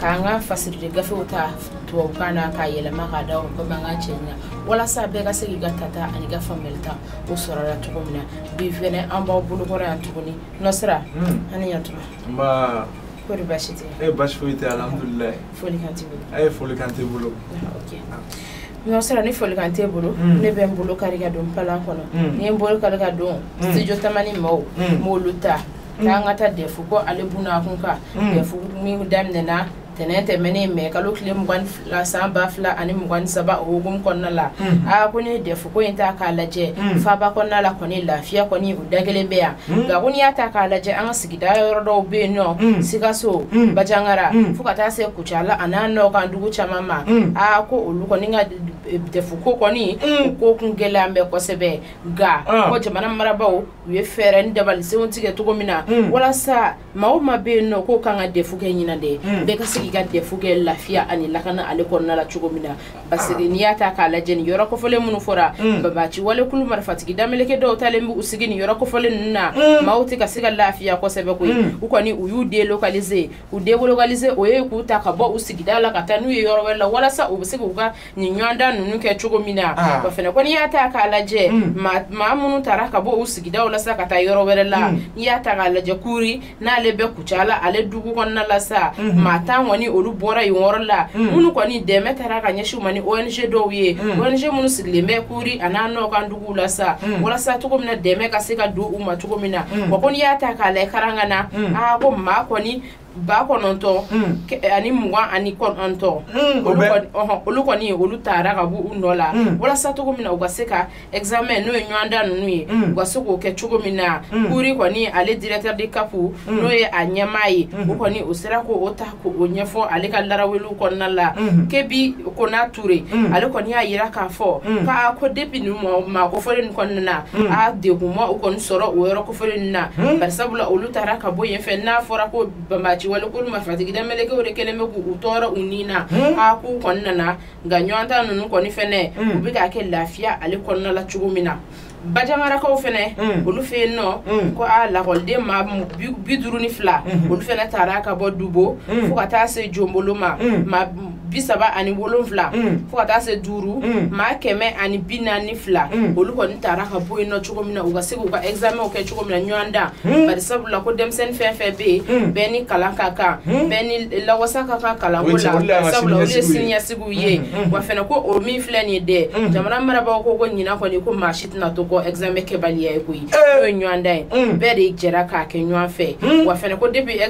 k'an ka fasilite gafew ta tubabukan na k'a yɛlɛma k'a da o komi an ka cɛ ɲa walasa bɛɛ ka se k'i ka tata ani ka faamuyali ta o sɔrɔla cogo min na bi fɛnɛ an b'aw bolokɔrɔ yan tuguni nɔsira an ni ɲatuma kori basi tɛ e basi foyi tɛ alhamdulilayi folikan t'i bolo a ye folikan t'i bolo ɲɔ sera ni folikan t'e bolo hmm. ne bɛ n bolo kari ka don palan kɔnɔ hmm. ne ye n bolo kari ka don hmm. studio tamani mɔgɔw m'olu ta k'an ka taa dɛfu ko ale buna kun kan mm. dɛfu min daminɛna tɛnɛn tɛmɛnen mɛ kalo tile mugan fila san ba fila ani mugan saba o hukumu kɔnɔna la mm. aa ko n'i ye dɛfu ko in ta k'a lajɛ mm. faaba kɔnɔna la kɔni lafiya kɔni o da kelen bɛ yan nka ko n'i y'a ta k'a lajɛ an ka sigida yɔrɔ dɔw bɛ yen nɔ sikaso banjagara fo ka taa se kucala a n'a nɔ kan dugu caman ma aa ko olu kɔni ka dɛfu ko kɔni ko kun gɛlɛya bɛ kosɛbɛ nka ko jamana marabaaw u ye fɛɛrɛ ni dabalisenw tigɛ cogo min na mm. walasa maa o maa bɛ yen nɔ k'o kan ka dɛfu kɛ ɲinan dɛ mm. bɛɛ ka se k'i ka dɛfu kɛ lafiya ani lakana ale kɔnɔna la cogo min na parce que n'i y'a ta k'a lajɛ nin yɔrɔ kofɔlen minnu fɔra mm. banbaanci walekulu marifatigi dameleke dɔw taalen b'u sigi nin yɔrɔ kofɔlen ninnu na maaw tɛ ka se ka lafiya kosɛbɛ koyi u kɔni u y'u delokalize u delokalize o ye k'u ta ka bɔ u sigida la ka taa n'u ye yɔrɔ wɛrɛ la walasa u bɛ se k'u ka nin ɲɔgɔndan ninnu kɛ cogo min na ah. wa fɛnɛ ko n'i y'a ta k'a lajɛ mm. maa minnu taara ka bɔ u sigidaw la sa ka taa yɔrɔ wɛrɛ la mm. n'i y'a ta k'a lajɛ kuri n'ale bɛ kucala ale dugu kɔnɔna la sa mm-hmm. maa tan kɔni olu bɔra yen yɔrɔ la mm. minnu kɔni dɛmɛ taara ka ɲɛsin u ma ni ong dɔw ye ong minnu sigilen bɛ kuri a n'a nɔ kan duguw la sa walasa cogo min na dɛmɛ ka se ka don u ma cogo min na wa ko n'i y'a ta k'a lajɛ karangana aa ah, ko maa kɔni ba kɔnɔntɔn ani mugan ani kɔnɔntɔn olu kɔni olu taara ka bɔ u nɔ la walasa cogo min na u ka se ka examen n'o ye ɲɔgɔndan ninnu ye u ka se k'o kɛ cogo min na kuri kɔni ale directeur de cap n'o ye a ɲɛmaa ye o kɔni o sera k'o ta k'o ɲɛfɔ ale ka laraweliw kɔnɔna la kebi kona ture ale kɔni y'a yira k'a fɔ k'a ko depuis nin maa kofɔlen nin kɔni nana a degun ma u kɔni sɔrɔ o yɔrɔ fɔlɔ ninnu na hmm? bari sabula olu taara ka bɔ yen fɛ n'a fɔra ko banbaanci walekulu marifatigi damelekew de kɛlen bɛ k'u tɔɔrɔ u ni na hmm? a k'u kɔni nana nka ɲɔgɔndan ninnu kɔni fɛnɛ hmm? u bɛ k'a kɛ lafiya ale kɔnɔna la cogo min na banjagarakaw fɛnɛ mm. olu fɛ yen nɔ mm. ko a lakɔliden maa bi duuru ni fila mm-hmm. olu fɛnɛ taara ka bɔ dubo mm. fo ka taa se jonbolo maa bi saba ani wolonfila mm. fo ka taa se duru mm. maa kɛmɛ ani bi naani fila mm. olu kɔni taara ka bɔ yen nɔ cogo min na u ka se k'u ka ɛgizamɛnw kɛ cogo min na ɲɔgɔndan bari sabula ko denmisɛnnin fɛn fɛn bɛ yen bɛɛ ni kalan ka kan bɛɛ ni lawasa ka kan kalanko la sabula olu ye siniɲɛsigiw ye wa fɛnɛ ko o min filɛ nin ye dɛ jamana marabagaw ko ko ɲinan kɔni ko maa si tɛna to kɔ ɛgizamɛn kɛbaliya ye koyi n'o ye ɲɔgɔndan ye bɛɛ de jɛra k'a kɛ ɲɔgɔn fɛ wa fɛnɛ ko depi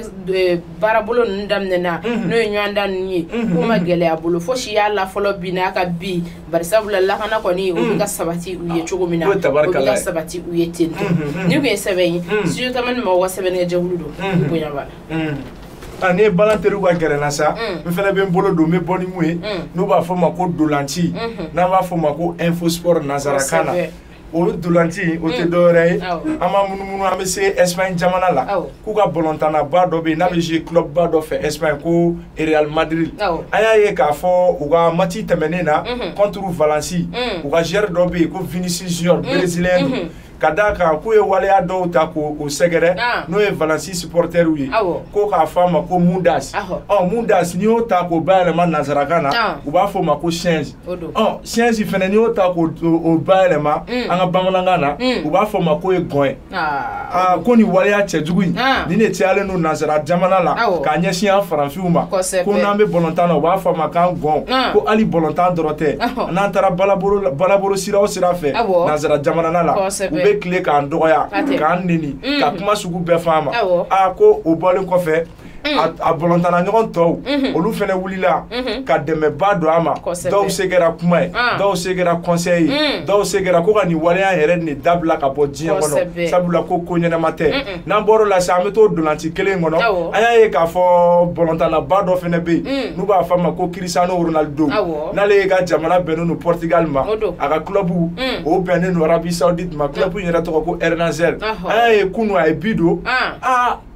baarabolo ninnu daminɛna mhm. n'o ye ɲɔgɔndan ninnu ye mhm. k'u ma gɛlɛya bolo fosi y'a la fɔlɔ bi n'a ka bi barisabula lakana kɔni o bɛ ka mhm. sabati u ye cogo min na o bɛ ka sabati u ye ten to ni tun ye sɛbɛn ye studio tamani mɔgɔw ka sɛbɛnnikɛjɛkulu don bonya b'a la ah, ne ye balɔn teriw ka gɛrɛ n na sa mm. n fana bɛ n bolo don n bɛ bɔ ni mun ye mm. n'u b'a fɔ ma ko ntolaci mm-hmm. n'an b'a fɔ ma ko infosport nansarakan na o ntolaci o tɛ mm. dɔwɛrɛ ye an b'a munumunu an bɛ se Espagne jamana la k'u ka bɔlɔntanaba dɔ bɛ yen n'a bɛ jouer club ba dɔ fɛ Espagne ko Real Madrid an y'a ye k'a fɔ u ka match tɛmɛnen na mm-hmm. contre Valence mm. u ka joueur dɔ bɛ yen ko Vinicius Junior mm. brésilien don mm-hmm. ka d'a kan k'u ye waleya dɔw ta k'o sɛgɛrɛ ah. n'o ye Valence supportɛriw ye ko k'a fɔ a ma ko mundas ɔ mundas n'i y'o ta k'o bayɛlɛma nansarakan na ah. u b'a fɔ o ma ko singe ɔ singe fana n'i y'o ta k'o o bayɛlɛma mm. an ka bamanankan na mm. u b'a fɔ ma k'o ye gɔn ye ah. ah, ko nin waleya cɛjugu in ah. nin de cayalen don nansara jamana la k'a ɲɛsin an faranfinw ma ko n'an bɛ bɔlɔntan na u b'a fɔ an ma k'an gɔn ko hali bɔlɔntan dɔrɔn tɛ n'an taara baarabolo sira o sira fɛ nansara jamana la u bɛ tile k'an dɔgɔya k'an neni mm. ka kuma sugu bɛɛ fɔ an ma aa ko o bɔlen kɔfɛ a bɔlɔntana ɲɔgɔn tɔw mhm. olu fɛnɛ wulila mhm. ka dɛmɛba don a ma dɔw se kɛra kuma ye ah. dɔw se kɛra kɔnsɛyi ye mm. dɔw se kɛra ko ka nin waleya yɛrɛ nin dabila ka bɔ diɲɛ kɔnɔ sabula ko ko ɲɛnama tɛ n'an bɔr'o la sisan an bɛ to ntolaci kelen kɔnɔ an y'a ye k'a fɔ bɔlɔntanaba dɔ fɛnɛ bɛ yen mm. n'u b'a fɔ a ma ko Cristiano Ronaldo n'ale yɛrɛ ka jamana bɛnnen don Portugal ma a ka kulɔbu mm. o bɛnnen don Arabie Saoudite ma kulɔbu in yɛrɛ tɔgɔ ko Al-Nassr an y'a ye kunu a ye bi don ah. Ah,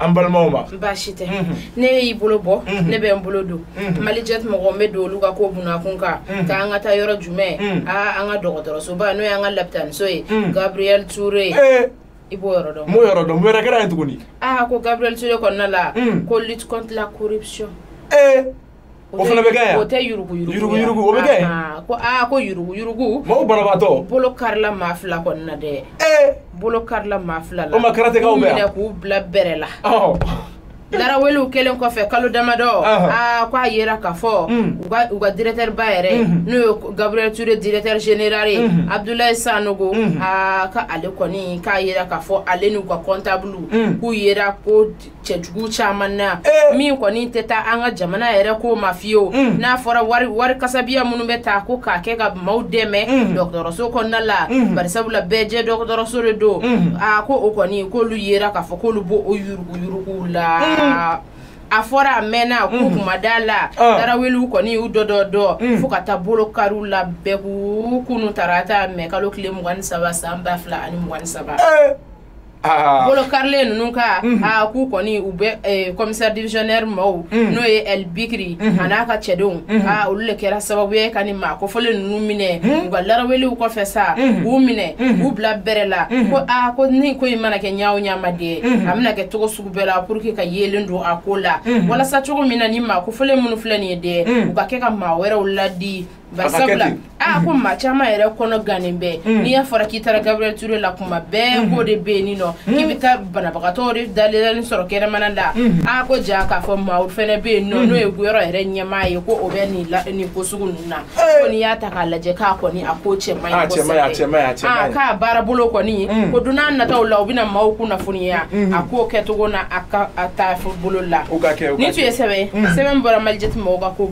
an balimaw ma baasi tɛ ne y'i bolo bɔ ne bɛ n bolo don Malijet mɔgɔ n bɛ don olu ka ko bunakun kan k'an ka taa yɔrɔ jumɛn aa an ka dɔgɔtɔrɔsoba n'o y'an ka lapitaniso ye Gabriel Touré i b'o yɔrɔ dɔn n b'o yɔrɔ dɔn mun wɛrɛ kɛra yen tuguni aa ko Gabriel Touré kɔnɔna la ko lutte contre la corruption ee o fana bɛ kɛ yan o tɛ yuruguyurugu yuruguyurugu o bɛ kɛ ko aa ko yuruguyurugu maaw banabaatɔ bolo karila maa fila kɔni na dɛ ee bolo karila maa fila la o ma karatɛkaw bɛ yan k'u bila bɛrɛ la laraweliw kɛlen kɔfɛ kalo damadɔ aa ko a yera k'a fɔ u ka directeur ba yɛrɛ n'o ye Gabriel Touré directeur général ye Abdoulaye Sanogo aa k'ale kɔni k'a yera k'a fɔ ale n'u ka comptable k'u yera ko cɛjugu caman na eh. min kɔni tɛ taa an ka jamana yɛrɛ ko ma fiyewu mm. n'a fɔra wari wari kasabiya minnu bɛ ta ko k'a kɛ ka maaw dɛmɛ mm. dɔgɔtɔrɔso kɔnɔna la mm. barisabula bɛɛ jɛ dɔgɔtɔrɔso de don a ko o kɔni k'olu yera k'a fɔ k'olu b'o o yuruguyuruguw la a fɔra a mɛnna k'u kun ma da la ah. tarawelew kɔni y'u dɔ dɔ dɔ fo ka taa bolo kari u la bɛɛ k'u kunu tarata mɛkalo tile mugan ni saba san ba fila ani mugan ni saba eh. Ah. bolo karilen ninnu ka mhm. ah, k'u kɔni u bɛ eh, commissaire divisionnaire maaw mhm. n'o ye El Bikri mhm. an'a ka cɛdenw ah, olu le kɛra sababu ye ka nin maa kofɔlen ninnu minɛ u ka laraweliw kɔfɛ sa k'u minɛ k'u bila bɛrɛ la ko a ko ni ko in mana kɛ ɲa o ɲa ma dɛ a bɛna kɛ cogo sugu bɛɛ la pour que ka yeelen don a ko la walasa cogo min na ni maa kofɔlen minnu filɛ nin ye dɛ u ka kɛ ka maa wɛrɛw ladi barisabula a ko maa caman yɛrɛ kɔnɔ gannen bɛ mm. n'i y'a fɔra k'i taara Gabriel Ture la kuma bɛɛ mm-hmm. ko de bɛ yen nin nɔ mm-hmm. k'i bɛ taa banabagatɔw de dalelani sɔrɔ kɛnɛmana la mm-hmm. a ko ja k'a fɔ maaw fɛnɛ bɛ yen nɔ n'o ye yɔrɔ yɛrɛ ɲɛmaa ye ko o bɛ nin nin ko sugu ninnu na ko n'i y'a ta k'a lajɛ k'a kɔni a ko cɛ man ɲi kosɛbɛ a k'a baara bolo kɔni mm. ko don n'a nataw la u bɛna maaw kunnafoniya a k'o kɛcogo na a ka taabolo la ni tun ye sɛbɛn sɛbɛn bɔra malijɛti mɔgɔw ka ko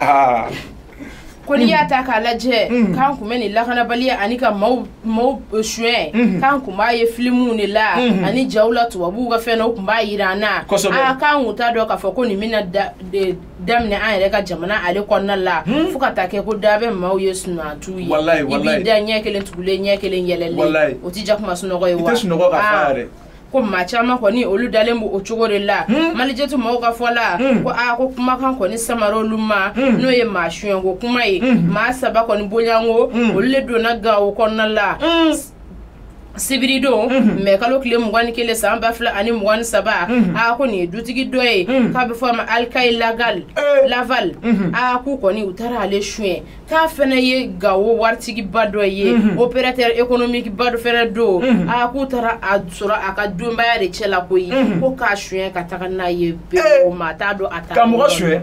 aa ko n'i y'a ta k'a lajɛ mm. k'an kun bɛ nin lakanabaliya ani ka maaw maaw eh, suɲɛ mm-hmm. k'an kun b'a ye filimuw de la mm-hmm. ani jaw la tubabuw ka fɛn na u kun b'a yira an na aa k'an kun t'a dɔn k'a fɔ ko nin bɛna daminɛ an yɛrɛ ka jamana ale kɔnɔna la hmm? fo ka taa kɛ ko da bɛ maaw ye sunatu ye i b'i da ɲɛ kelen tugulen ɲɛ kelen yɛlɛlen o tɛ jakuma sunɔgɔ ye wa ko maa caman kɔni olu dalen b'o o cogo de la hmm. malijɛtu mɔgɔw ka fɔ la hmm. ko aa ko kumakan kɔni samara olu ma hmm. n'o ye maa suɲɛko kuma ye maa saba kɔni bonya ko olu le donna Gawo kɔnɔna la sibiridon mhm. mɛ kalo tile mugan ni kelen san ba fila ani mugan ni saba mhm. a ko nin ye dutigi dɔ ye mhm. k'a bɛ fɔ a ma alikayi lagal laval a k'u kɔni u taara ale suɲɛ k'a fana ye Gawo waritigiba dɔ ye mhm. opérateur économique ba dɔ fɛnɛ don mhm. a ah, k'u taara a sɔrɔ a ka denbaya de cɛ la koyi mhm. ko k'a suɲɛ ka taga n'a ye bɛɛ eh. o ma a t'a dɔn a ta ka mɔgɔ suɲɛ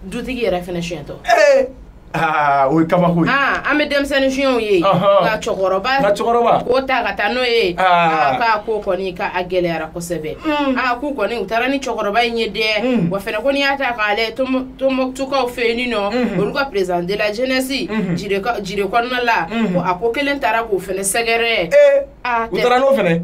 dutigi yɛrɛ fɛnɛ suɲɛtɔ eh. ah, o ye kabako ye ah, an bɛ denmisɛnnin suɲɛtɔ ye nka cɛkɔrɔba nka cɛkɔrɔba k'o ta ka taa n'o ye k'a ko kɔni k'a gɛlɛyara kosɛbɛ mm. k'u kɔni u taara ni cɛkɔrɔba in ye dɛ mm. wa fɛnɛ ko n'i y'a ta k'a lajɛ Tumutukaw fɛ yen nɔ mhm. olu ka président de la jeunesse mhm. Jire kɔnɔna la mhm. ko a ko kelen taara k'o fɛnɛ sɛgɛrɛ eh, ah, u taara n'o fɛnɛ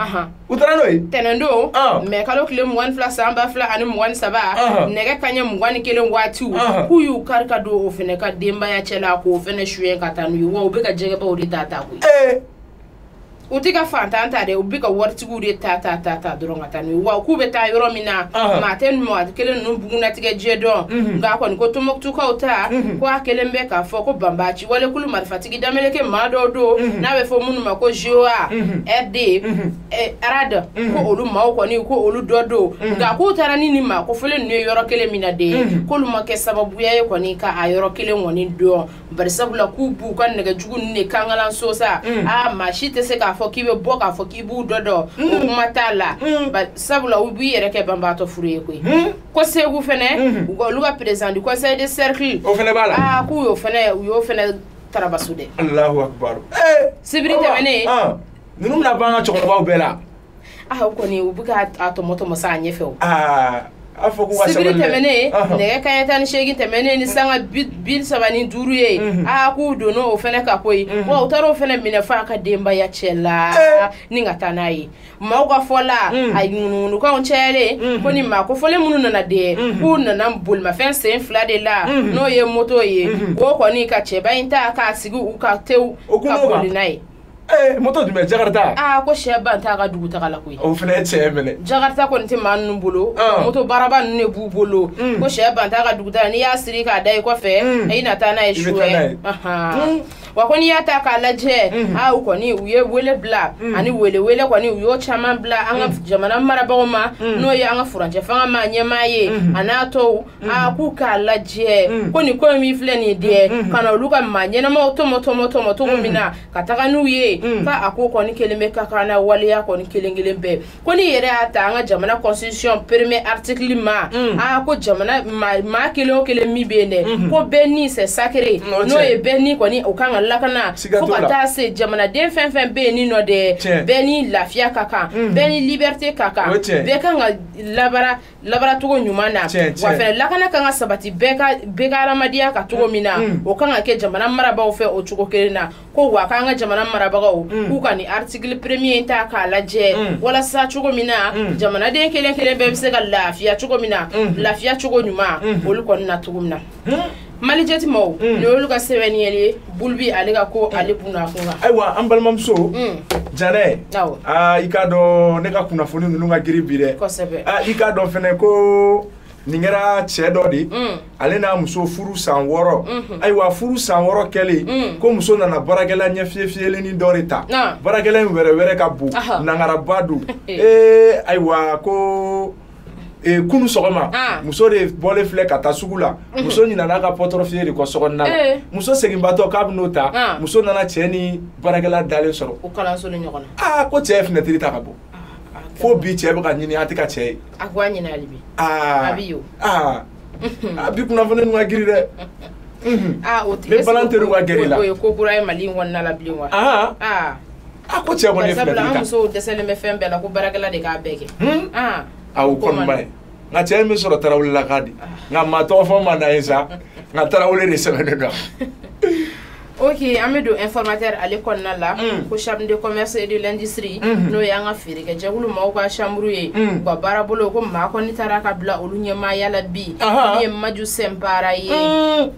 u taara n'o ye tɛnɛndon ah. mɛ kalo tile mugan ni fila san ba fila ani mugan ni saba nɛgɛ kaɲɛ mugan ni kelen waatiw k'u y'u kari ka don o fɛnɛ ka denbaya cɛ la k'o fɛnɛ suɲɛ ka taa n'u ye wa u bɛ ka jɛgɛbaw de ta ta koyi eh. u tɛ ka fantan ta dɛ u bɛ ka waritigiw de ta ta ta ta dɔrɔn ka taa n'u ye wa k'u bɛ taa yɔrɔ min na maa tɛ maa kelen ninnu bugunnatigɛ jɛ dɔn mhm. nka kɔni ko tɔmɔkutukaw ta mhm. ko a kɛlen bɛ k'a fɔ ko banbaanci wali kulu marifatigi dameleke maa dɔw don mhm. n'a bɛ fɔ minnu ma ko joa rd eh, arad ko olu maaw kɔni ko olu dɔ don nka k'u taara ni nin maa kofɔlen ninnu ye yɔrɔ kelen min na de k'olu ma kɛ sababu ye kɔni ka a yɔrɔ kelen kɔni dɔn bari sabula k'u b'u ka nɛgɛjugu ninnu de kankalan sosa mm. a ah, maa si tɛ se k'a fɔ k'i bɛ bɔ k'a fɔ k'i b'u dɔ dɔ o mm. kuma t'a la mm. sabula u b'i yɛrɛ kɛ banbaatɔ furu ye koyi ko segu fɛnɛ mm-hmm. u ka olu ka président du conseil de cercle o fɛnɛ b'a la aa ah, k'u y'o fɛnɛ u y'o fɛnɛ tarabaso dɛ alahu akibaru eh, sibiri tɛmɛnen ah, ninnu bɛna ban ka cɛkɔrɔbaw bɛɛ la ah o kɔni u bɛ ka a tɔmɔtɔmɔ sa a ɲɛfɛ o aa a fɔ ko ka sibiri sabali dɛ. tɛmɛnen Ɔhɔn. nɛgɛ kanɲɛ tan ni seegin tɛmɛnen ni sanga bi bi saba ni duuru ye Mhm. aa k'u donna o fɛnɛ kan koyi Mhm. wa u taara o fɛnɛ minɛ f'a ka denbaya cɛ la Eh. ni ka taa n'a ye maaw ka fɔ la Mm. a ŋunuŋunukanw cayalen Mhm. ko ni maa kofɔlen minnu nana de Mhm. k'u nana bolimafɛn sen fila de la Mhm. n'o ye moto ye Mhm. k'u kɔni ka cɛba in ta k'a sigi u ka tew O kun ka n'o kan. boli n'a ye ee moto dun bɛ jakarita aa ko sɛ ban t'a ka dugu taga la koyi o fana ye cɛɛ minɛ jakarita kɔni tɛ maa ninnu bolo ah. moto baraba ninnu de b'u bolo mm. ko sɛ ban t'a ka dugu taga n'i y'a siri k'a da i kɔfɛ mm. i na taa n'a ye suwɛ mm. wa ko n'i y'a ta k'a lajɛ mm-hmm. aa ah, u kɔni u ye wele bila ani welewele kɔni u y'o caman bila an ka jamana marabagaw ma n'o ye an ka furancɛ fanga ma ɲɛmaa ye mm-hmm. a n'a tɔw Mm. a ah, k'u k'a lajɛ mm. ko nin ko in min filɛ nin dɛ mm, ka na olu ka maa ɲɛnamaw tɔmɔ tɔmɔ tɔmɔ cogo min na ka taga n'u ye ka a ko kɔni kelen bɛ ka kan na waleya kɔni kelen kelen bɛɛ ko n'i yɛrɛ y'a ta an ka jamana constitution premier article ma a ko jamana maa kelen o kelen min bɛ yen dɛ mm-hmm. ko bɛɛ ni c'est sacré n'o ye bɛɛ ni kɔni o kan ka lakana fo ka taa se jamanaden fɛn fɛn bɛ yen ni nɔ dɛ bɛɛ ni lafiya ka kan bɛɛ ni liberté ka kan bɛɛ kan ka labara labaracogo ɲuman na wa fɛnɛ lakana kan ka sabati bɛɛ ka bɛɛ ka hadamadenya kan cogo min na mm. o kan ka kɛ jamana marabagaw fɛ o cogo kelen na ko wa k'an ka jamana marabagaw mm. k'u ka nin article premier in ta k'a lajɛ mm. walasa cogo min na jamanaden kelen kelen bɛɛ bɛ se ka lafiya cogo min na mm-hmm. lafiya cogo ɲuman mm-hmm. olu kɔni na cogo min na Malijet mɔgɔw nin y'olu ka sɛbɛn ɲɛli ye bulu bi ale ka ko ale bunna kun kan ayiwa an balimamuso janɛ aa i k'a dɔn ne ka kunnafoni ninnu ka giri bi dɛ kosɛbɛ aa i k'a dɔn fɛnɛ ko nin kɛra cɛ dɔ de ale n'a muso furu san wɔɔrɔ ayiwa furu san wɔɔrɔ kɛlen kɔ muso nana baarakɛla ɲɛfiyefiyelennin dɔ de ta baarakɛla in wɛrɛwɛrɛ ka bon nangaraba don ee ayiwa ko Eh, kunu sɔgɔma ah. muso de bɔlen filɛ ka taa sugu la mhm. muso ɲinana a ka portefeuille de kɔ so kɔnɔna na eh. muso seginbaatɔ k'a bɛ n'o ta ah. muso nana cɛ ni baarakɛla dalen sɔrɔ aa ah, ko cɛ ye finɛtiri ta ka bɔ fo bi cɛ bɛ ka ɲini an tɛ ka cɛ ye a bi kunnafoni ninnu ka giri dɛ o tɛ balan teri ka gɛrɛ la o ye ko kura ye mali in kɔnɔna la bilen wa a ko cɛ kɔni ye filɛ an musow dɛsɛlen bɛ fɛn bɛɛ la ko baarakɛla de k'a bɛɛ kɛ a o kɔni ba ye nka cɛ in bɛ sɔrɔ tarawele la k'a di nka maa tɔgɔ fɔ ma na ye sa nka tarawele de sɛbɛnnen don ok an bɛ don informateur ale kɔnɔna la mm. ko chambre de commerce et de l'industrie mm-hmm. n'o y'an ka feerekɛjɛkulu maaw ka chambre ye mm. u ka baarabolo ko maa kɔni tara ka bila olu ɲɛmaaya la bi min ye maju sɛnpara ye mm.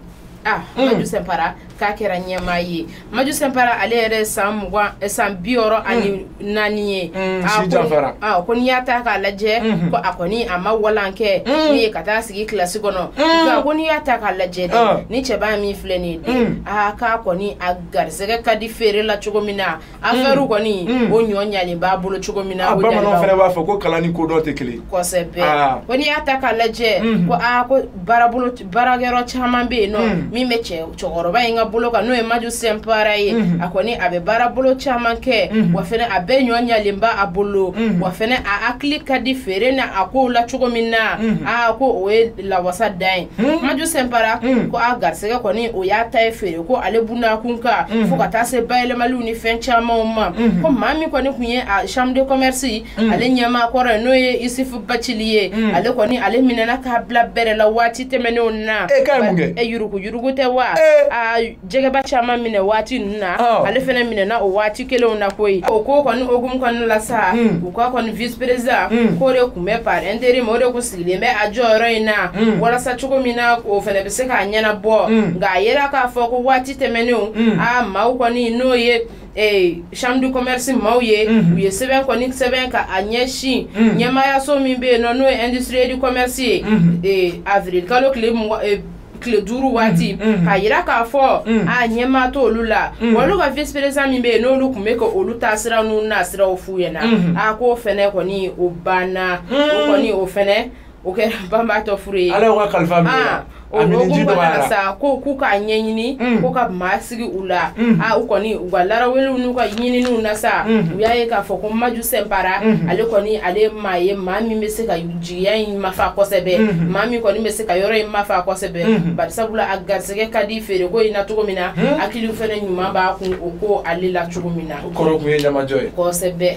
ah maju sɛnpara k'a kɛra ɲɛmaa ye maju sɛnpara ale yɛrɛ san mugan eh, san bi wɔɔrɔ ani naani ye mm, si janfara ah, ko n'i y'a ta k'a lajɛ mm-hmm. ko a kɔni a ma kalan kɛ mm. min ye ka taa sigi kilasi kɔnɔ mm. nka ko n'i y'a ta k'a lajɛ de ah. ni cɛba min filɛ nin ye de aa ah, k'a kɔni a garisɛgɛ ka di feere la cogo min na afɛriw kɔni o ɲɔ ɲalen b'a bolo cogo min na bamananw fana b'a fɔ ko kalan ni kodɔn tɛ kelen kosɛbɛ ko n'i y'a ta k'a lajɛ mm-hmm. ko aa ko baarabolo baarakɛyɔrɔ caman bɛ yen nɔ mm. min bɛ cɛ cɛkɔrɔba in ka bolo kan n'o ye maju sɛnpara ye mm-hmm. a kɔni a bɛ baara bolo caman kɛ mm-hmm. wa fɛnɛ a bɛɛ ɲɔ ɲalen b'a bolo mm-hmm. wa fɛnɛ a hakili ka di feere na a kow la cogo min na aa ko o ye lawasa dan ye maju sɛnpara mm. ko a garisɛgɛ kɔni o y'a ta ye feere ko ale bunakun kan fo ka taa se bayɛlɛmaliw ni fɛn camanw ma ko maa min kɔni tun ye a chambre de commerce Mm. ale ɲɛmaa kɔrɔ ye n'o ye isufu bacili ye mm. ale kɔni ale minɛna k'a bila bɛrɛ la waati tɛmɛnenw na e ka mun kɛ e yuruku yuruku tɛ wa eh. a jɛgɛba caman minɛ waati ninnu na oh. ale fana minɛna o waati kelenw na koyi o ko kɔni hukumu kɔnɔna la sa mm. u ka kɔni vice président k'o de tun bɛ par intérim o de tun sigilen bɛ a jɔyɔrɔ in na walasa cogo min na o fana bɛ se k'a ɲɛnabɔ nka a yera k'a fɔ ko waati tɛmɛnenw a maaw kɔni n'o ye ee chambre de commerce maaw ye Mhm. u ye sɛbɛn kɔni sɛbɛn ka a ɲɛsin Mhm. ɲɛmaayaso min bɛ yen nɔ n'o ye industrie du commerce ye Mhm. ee avril kalo tile mugan ee, tile duuru waati Mhm. Mhm. k'a yira k'a fɔ Mhm. a ɲɛmaa t'olu la Mhm. wa olu ka vice président min bɛ yen n'olu tun bɛ ka olu taa sira n'u na siraw f'u ɲɛna Mhm. a k'o fɛnɛ kɔni o banna o Mhm. kɔni o fɛnɛ o kɛ banbaatɔ fure ye ala ka kalifa minɛ ah, o hukumu kɔnɔna na sa ko k'u k'a ɲɛɲini mm. ko ka maa sigi u la mm. a ah, u kɔni u ka laraweliw n'u ka ɲininiw na sa mm. u y'a ye k'a fɔ ko maju sɛnpara ale kɔni ale ye maa ye maa min bɛ se ka jigiya in mafa kosɛbɛ maa min kɔni bɛ se ka yɔrɔ in mafa kosɛbɛ bari sabula a garisɛgɛ ka di feereko in na cogo min na hakili fɛnɛ ɲuman b'a kun o ko ale la cogo min na o kɔrɔ kun ye ɲamajɔ ye kosɛbɛ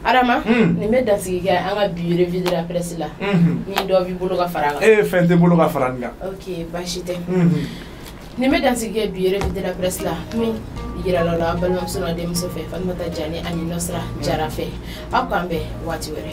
Adama hmm. nin bɛ dansigi kɛ an ka bi revue de la presse la hmm. ni dɔ b'i bolo ka fara kan ee fɛn tɛ n bolo ka fara nin kan ok baasi tɛ hmm. nin bɛ dansigi kɛ bi revue de la presse la min yirala aw la balimamuso n'aw denmuso fɛ Fatumata Jani ani Nasira Jara fɛ aw k'an bɛn waati wɛrɛ